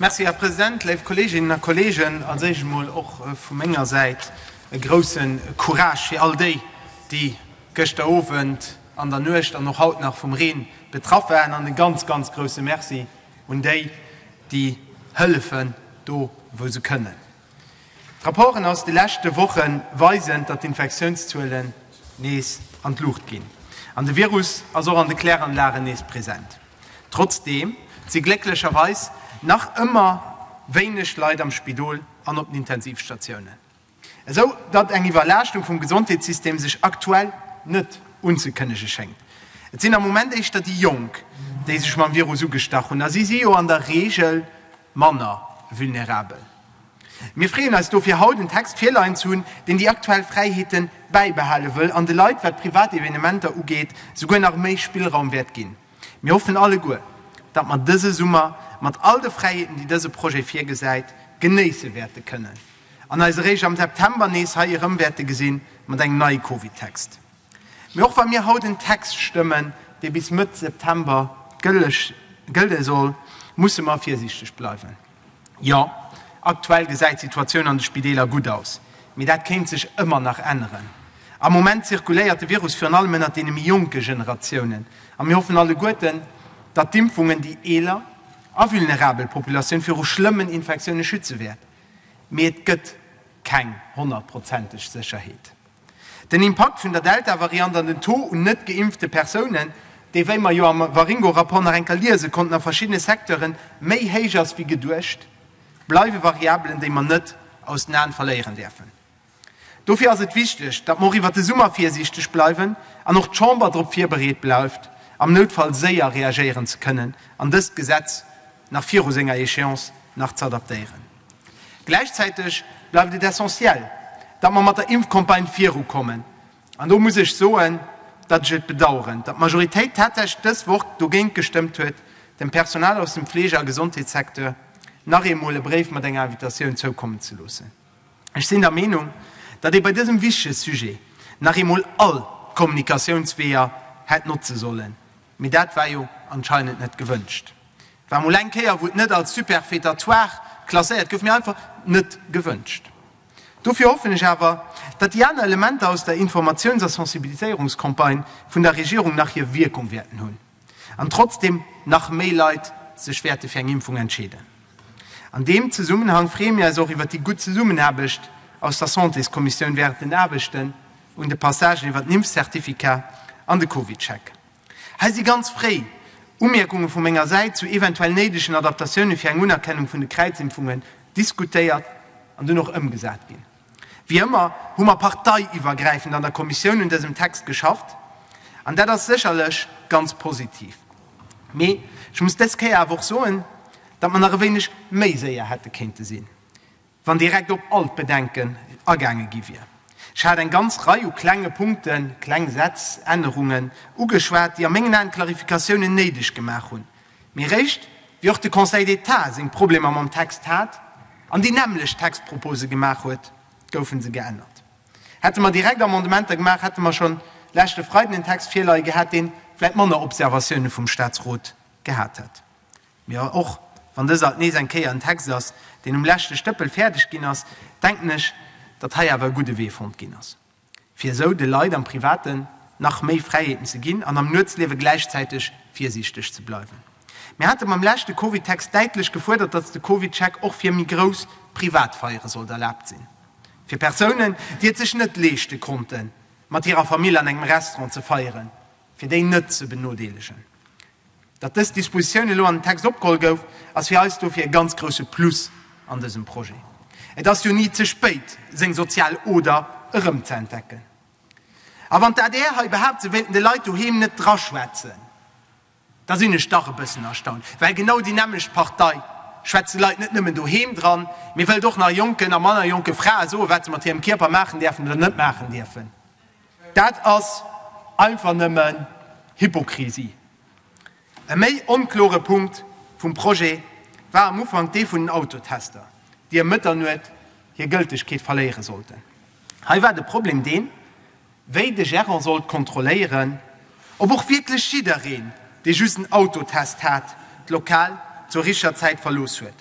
Merci, Här President. Léif Kolleeginnen a Kolleegen, als Éischt emol och vu menger Säit e grouse Courage fir all déi, déi gëschter Owend, an der Nuecht an och haut nach vum Reen betraff waren, an e ganz, ganz grouse Merci un déi, déi hëllefen, do wou se kënnen. D'Rapporten aus de leschte Woche weisen, datt d'Infektiounszuelen nees an d'Luucht ginn an de Virus ass och an de Kläranlagen nees present. Trotzdeem si glécklecherweis nach ëmmer wéineg Leit am Spidol an op den Intensivstatiounen, esou datt eng Iwwerlaaschtung vum Gesondheetssystem sech aktuell net unzekënnege schéngt. Et sinn am Moment éischter déi Jonk, déi sech mam Virus ugestach hunn a si si jo an der Reegel manner vulnerabel. Mir freeën eis dofir haut en Text virleien ze hunn, deen déi aktuell Fräiheete bäibehale wëll an de Leit, wat privat Evenementer ugeet, souguer nach méi Spillraum wäert ginn. Mir hoffen alleguer, datt mer dëse Summer mat all de Fräiheeten, déi dëse Projet virgesäit, genéisse wäerte kënnen an eis eréischt am September nees hei erëm wäerte gesinn, mat engem neie Covid-Text. Mee och wa mir haut en Text stëmmen, dee bis Mëtt September gëlle soll, musse mer virsiichteg bleiwen. Jo, aktuell gesäit d'Situatioun an de Spideeler gutt aus, mee dat kéint sech ëmmer nach änneren. Am Moment zirkuléiert de Virus virun allem ënnert deene méi jonke Generatiounen a mir hoffen alleguerten, datt d'Impfungen déi eeler a vulnerabel Populatioun viru schlëmmen Infektioune schütze wäert. Mee et gëtt keng honnertprozenteg Sécherheet. Den Impakt vun der Delta-Variant an den Taux un net geimpfte Persounen, dee wéi mer jo am Waringo-Rapport nach eng Kéier liese konnten a verschiddene Secteure méi héich ass wéi geduecht, bleiwe Variabelen, déi mer net aus den Aen verléieren däerfen. Dofir ass et wichteg, datt mer och iwwert de Summer virsiichteg bleiwen an och d'Chamber drop virbereet bleift, am Noutfall séier reagéieren ze kënnen an dëst Gesetz, nach viru senger Échéance nach ze adaptéieren. Gläichzäiteg bleift et essentiel, datt mer mat der Impfcampagne virukommen. An do muss ech soen, datt ech et bedauern, datt d'Majoritéit tatsächlech dës Woch dogéint gestëmmt huet, dem Personal aus dem Fleege a Gesondheetssecteur nach eemol e Bréif mat enger Invitatioun zoukommen ze loossen. Ech sinn der Meenung, datt ee bei dësem wichtege Sujet nach eemol all d'Kommunikatiounsweeër hätt notze sollen. Mee dat war jo anscheinend net gewënscht. War mol eng Kéier, wou et net als superfétatoire klasséiert gouf, mee einfach net gewënscht. Dofir hoffen ech awer, datt déi aner Elementer aus der Informatiouns a Sensibiliséierungscampagne vun der Regierung nach hir Wierkung wäerten hunn an trotzdeem nach méi Leit sech wäerte fir eng Impfung entscheeden. An deem Zesummenhang freeë mir eis och iwwer déi gutt Zesummenaarbecht aus der Santéskommissioun während den Aarbechten, un de Passagen iwwert den Impfzertifikat an de Covid-Check. Hei si ganz fréi Umierkunge vu menger Säit zu eventuell néidegen Adaptatioune fir eng Unerkennung vun de Kräizimpfungen diskutéiert an dunn och ëmgesat ginn. Wéi ëmmer hu mer parteiiwwergräifend an der Kommissioun un dësem Text geschafft an dat ass sécherlech ganz positiv. Mee ech muss dës Kéier awer och soen, datt mer nach e wéineg méi séier hätte kéinte sinn. wann direkt op all d'Bedenken agaange gi wier. Ech hat eng ganz Rei u klenge Punkten, kleng Sätz, Ännerungen ugeschwat, déi a mengen Aen Klarifikatiounen néideg gemaach hunn, mee eréischt wéi och de Conseil d'État seng Problemer mam Text hat an déi nämmlecht Textpropose gemaach huet, goufe se geännert. Hätte mer direkt Amendementer gemaach, hätte mer schonn leschte Freiden en Text virleie gehat, dee vläit manner Observatioune vum Statsrot gehat hätt. Mee och wann dës alt nees eng Kéier en Text ass, deen um leschte Stëppel fäerdeg ginn ass, denken ech, datt hei awer e gudde Wee fonnt ginn ass, fir esou de Leit am Privaten nach méi Fräiheeten ze ginn an am Nuetsliewe gläichzäiteg virsiichteg ze bleiwen. Mir hate mam leschte Covid-Text däitlech gefuerdert, datt de Covid-Check och fir méi grouss privat Feiere sollt erlaabt sinn. Fir Persounen, déi et sech net leeschte konnten, mat hirer Famill an engem Restaurant ze feieren, fir déi net ze benodeelegen. Datt dës Dispositioun elo an den Text opgeholl gouf, ass fir eis dofir e ganz grousse Plus an dësem Projet. Et ass jo ni ze spéit, seng sozial Oder erëmzeentdecken. A wann d'ADR hei behaapt, se wéilten de Leit doheem net draschwätzen, da sinn ech dach e bëssen erstaunt. Well genau déi nämmlecht Partei schwätzt de Leit net nëmmen doheem dran, mee wëllt och nach jonken a manner jonke Frae soen, wat se mat hirem Kierper maachen däerfen oder net maachen dierfen. Dat ass einfach nëmmen Hypokrisie. E méi onkloren Punkt vum Projet war am Ufank dee vun den Autotester, déi ëm Mëtternuet hir Gëltegkeet verléieren sollten. Hei war de Problem deen, wéi de Gérant sollt kontrolléieren, ob och wierklech jiddereen, dee just en Autotest hat, d'Lokal zur richtger Zäit verlooss huet.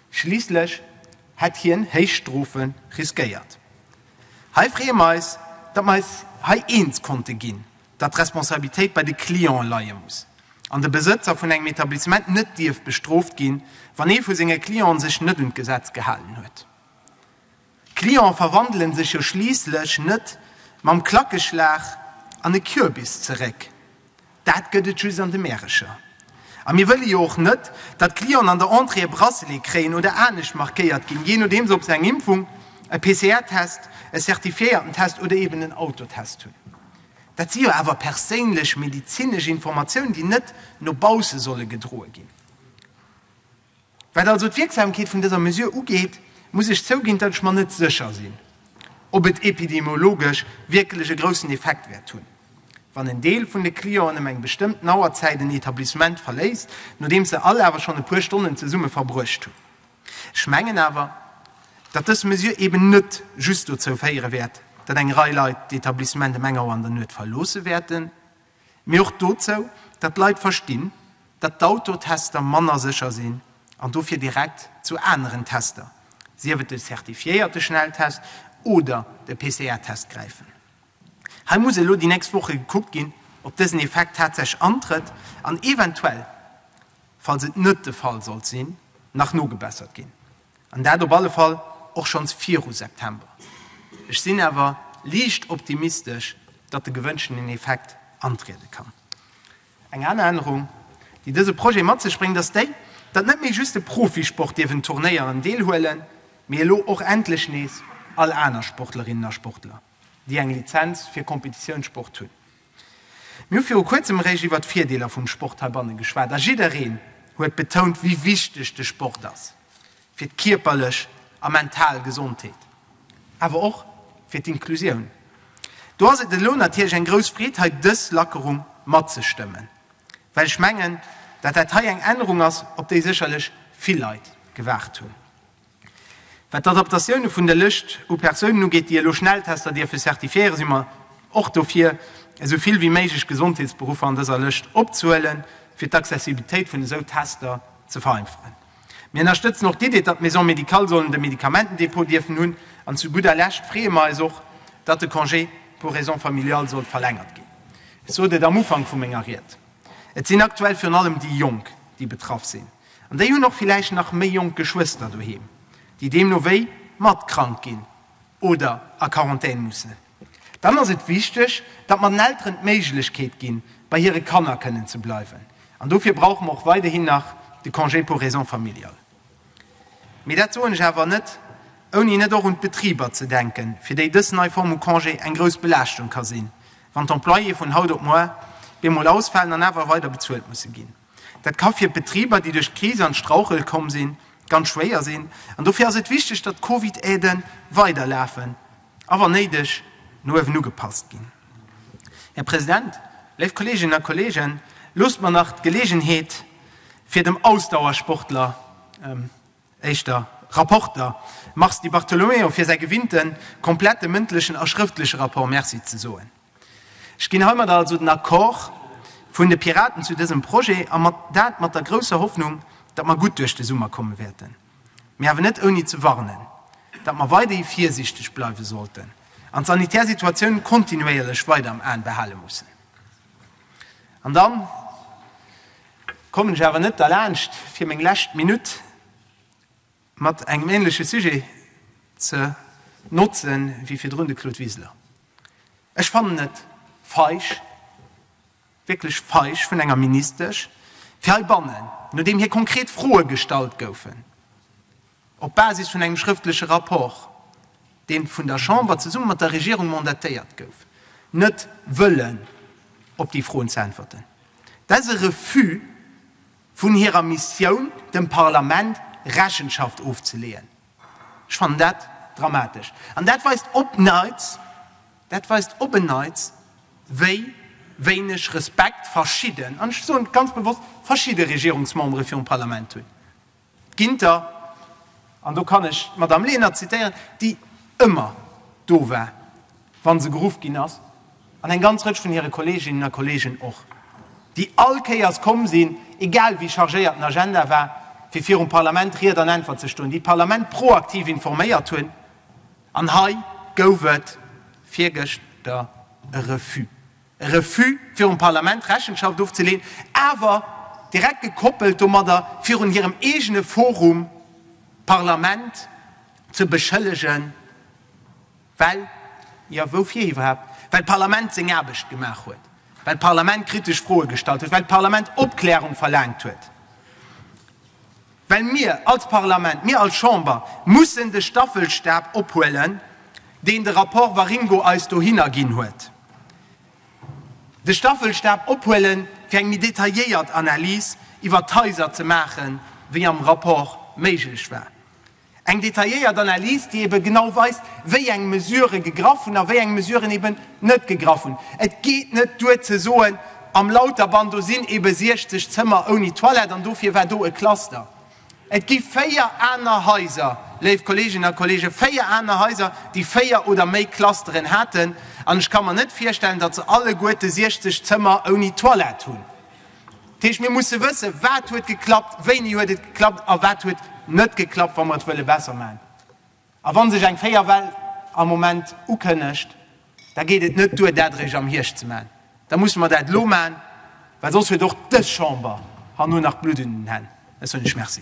Schliisslech hätt hien héich Strofe riskéiert. Hei freeë mer eis, datt mer eis hei eens konnte ginn, datt d'Responsabilitéit bei de Cliente leie muss an de Besëtzer vun engem Etablissement net dierf bestrooft ginn, wann ee vu senge Cliente sech net un d'Gesetz gehalen huet. Cliente verwandelen sech jo schliisslech net mam Klackeschlag an e Kürbis zeréck, dat gëtt et just an de Märecher. A mir wëlle jo och net, datt d'Clienten an der Entrée e Bracelet kréien oder anescht markéiert ginn, jee nodeems ob se eng Impfung, e PCR-Test, e certifiéierten Test oder eben en Autotest hunn. Dat si jo awer perséinlech medezinesch Informatiounen, déi net no bausse solle gedroe ginn. Wat also d'Wierksamkeet vun dëser Mesure ugeet, muss ech zouginn, datt ech mer net sécher sinn, ob et epidemiologesch wierklech e groussen Effekt wäert hunn, wann en Deel vun de Clienten ëm eng bestëmmten Auerzäit en Etablissement verléisst, nodeems se all awer schonn e puer Stonnen zesumme verbruecht hunn. Ech mengen awer, datt dës Mesure eben net just dozou féiere wäert, datt eng Rei Leit d'Etablissement ëm eng Auer an der Nuet verloosse wäerten, Mee och dozou, datt d'Leit verstinn, datt d'Autotester manner sécher sinn an dofir direkt zu aneren Tester, sief et de certifiéierte Schnelltest oder de PCR-Test gräifen. Hei muss elo déi nächst Woche gekuckt ginn, ob dësen Effekt tatsächlech antrëtt an eventuell, falls et net de Fall sollt sinn, nach nogebessert ginn. An dat op alle Fall och schonns viru September. Ech sinn awer liicht optimistesch, datt de gewënschtenen Effekt antriede kann. Eng aner Ännerung, déi dëse Projet mat sech bréngt, ass déi, datt net méi just de Profisport dierf un Turnéieren deelhuelen, mee elo och endlech nees all aner Sportlerinnen a Sportler, déi eng Lizenz fir Kompetitiounssport hunn. Mir hu viru kuerzem eréischt iwwert d'Virdeeler vum Sport heibanne geschwat a jiddereen huet betount, wéi wichteg de Sport ass fir d'kierperlech a mental Gesondheet, awer och fir d'Inklusioun. Do ass et elo natierlech eng grouss Freed, hei dës Lackerung matzestëmmen, well ech mengen, datt dat hei eng Ännerung ass, op déi sécherlech vill Leit gewaart hunn. Wat d'Adaptatioune vun der Lëscht u Persounen ugeet, déi elo Schnelltester dierfe certifiéieren, si mer och dofir, esou vill wéi méiglech Gesondheetsberuffer an dëser Lëscht opzehuelen, fir d'Accessibilitéit vun esou Tester ze vereinfachen. Mir ënnerstëtzen och d'Iddi, datt d'Maisons médicales sollen de Medikamentendepot dierfen hunn. An zu gudder Lescht freeë mer eis och, datt de Congé pour raisons familiales soll verlängert ginn. Ech sot et am Ufank vu menger Ried, Et sinn aktuell virun allem déi Jonk, déi betraff sinn. An déi hunn och villäicht nach méi jonk Geschwëster doheem, déi deemno wéi mat krank ginn oder a Quarantän mussen. Dann ass et wichteg, datt mer den Elteren d'Méiglechkeet ginn, bei hire Kanner kënnen ze bleiwen. An dofir brauche mer och weiderhin nach de Congé pour raisons familiales. Mee dat soen ech awer net, ouni net och un d'Betriber ze denken, fir déi dës nei Form u Congé eng grouss Belaaschtung ka sinn, wann d'Employéë vun haut op muer bemol ausfalen an awer weider bezuelt musse ginn. Dat ka fir Betriber, déi duerch d'Kris an d'Strauchel komm sinn, ganz schwéier sinn. An dofir ass et wichteg, datt d'Covid-Aide weiderlafen a wann néideg no uewen ugepasst ginn. Här President, léif Kolleeginnen a Kolleegen, loosst mer nach d'Geleegenheet fir dem Ausdauersportler, Éischter Rapporter Mars Di Bartolomeo fir säi gewinnte komplette mëndlechen a schrëftleche Rapport Merci ze soen. Ech ginn heimadder also den Accord vun de Piraten zu dësem Projet, a dat mat der grousser Hoffnung, datt mer gutt duerch de Summer komme wäerten, mee awer net ouni ze warnen, datt mer weiderhi virsiichteg bleiwe sollten an d'sanitär Situatioun kontinuéierlech weider am Aen behale mussen. An dann kommen ech awer net derlaanscht, fir meng lescht Minutt mat engem ähnleche Sujet ze notze wéi virdrun de Claude Wiseler. Ech fannen et feig, wierklech feig vun enger Ministesch, fir heibannen, nodeem hir konkret Froe gestallt goufen, Op Basis vun engem schrëftleche Rapport, deen vun der Chamber zesumme mat der Regierung mandatéiert gouf, net wëllen op déi Froen ze äntwerten, dat ass e Refus vun hirer Missioun, dem Parlament Rechenschaft ofzeleeën. Ech fannen dat dramatesch. An dat weist op neits, dat weist op en neits, wéi wéineg Respekt verschidden, an ech soen et ganz bewosst, verschidde Regierungsmembere virum Parlament hunn. Ginter, an do kann ech d'Madame Lenert zitieren, déi ëmmer do war, wa se geruff ginn ass, an eng ganz Rëtsch vun hire Kolleeginnen a Kolleegen och, déi all Kéiers komm sinn, egal wéi chargéiert den Agenda war, fir virum Parlament Ried an Äntwert ze stoen, déi d'Parlament proaktiv informéiert hunn. An hei gouf et virgëschter e Refus. e Refus virum Parlament Rechenschaft ofzeleen, awer direkt gekoppelt domadder virun hirem eegene Forum, d'Parlament ze beschëllegen, well, jo, woufir iwwerhaapt, well d'Parlament seng Aarbecht gemaach huet, well d'Parlament kritesch Froe gestallt huet, well d'Parlament Opklärung verlaangt huet. Well mir als Parlament, mir als Chamber mussen de Staffelstab ophuelen, deen de Rapport Waringo eis dohinner ginn huet, de Staffelstab ophuelen, fir eng méi detailléiert Analys iwwert d'Haiser ze maachen, wéi am Rapport méiglech war. Eng detailléiert Analys, déi ebe genau weist, wéi eng Mesurë gegraff hunn a wéi eng Mesuren eben net gegraff hunn. Et geet net duer ze soen, am Lauterband, do sinn ebe 60 Zëmmer ouni Toilette an dofir war do e Cluster. Et gi véier aner Haiser, léif Kolleeginnen a Kolleegen, véier aner Haiser, déi véier oder méi Clusteren haten. An ech ka mer net virstellen, datt se alleguerte 60 Zëmmer ouni Toilette hunn. Dat heescht, mir musse wëssen, wat huet geklappt, wéini huet et geklappt a wat huet net geklappt, wa mer et wëlle besser maachen. A wa sech eng véier Well am Moment ukënnegt, da geet et net duer, dat eréischt am Hierscht ze maachen. Da musse mer dat elo maachen, well soss huet och dës Chamber herno nach Blutt un den Hänn. Ech soen lech Merci.